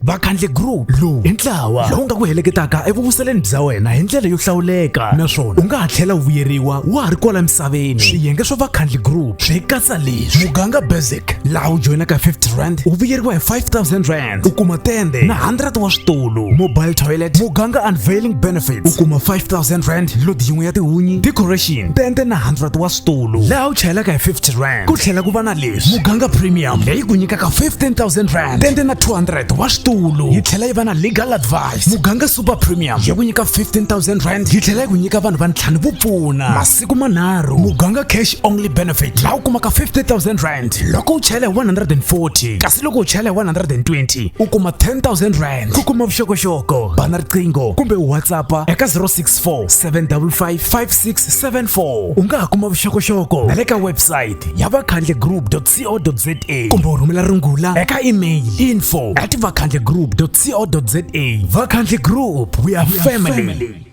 vakhandle group lowu i ntlawa lowu nga ku heleketaka evuvuseleni bya wena hi ndlela yo hlawuleka naswona u nga ha tlhela u vuyeriwa wa ha ri kwala misaveni swiyenge swa vakhandle group swi katsa leswi muganga basic laha u joyinaka 50 rand u vuyeriwa hi 5000 rand u kuma tende na 100 wa switulu mobile toilet muganga unveiling benefits u kuma 5000 rand lodi yin'we ya tihunyi decoration tende na 100 wa xitulu laha u chayelaka hi 50 rand ku tlhela ku va na leswi muganga premium leyi ku nyikaka 15000 rand tende na 200 wa xitulu yi tlhela yi va na legal advice muganga super premium yi ku nyika 15000 rand yi tlhela yi ku nyika vanhu va ntlhanu vo pfuna masiku manharhu muganga cash only benefit laha u kumaka 50000 rand loko u chayela hi 140 kasi loko u chayela hi 120 u kuma 10000 rand ku kuma vuxokoxoko bana riqingho kumbe whatsapp eka 06 075476755674 u nga ha kuma vuxokoxoko na le ka website ya vakhandle group co za kumbe u rhumela rungula eka email info at vakhandle group co za vakhandle group we are family, we are family.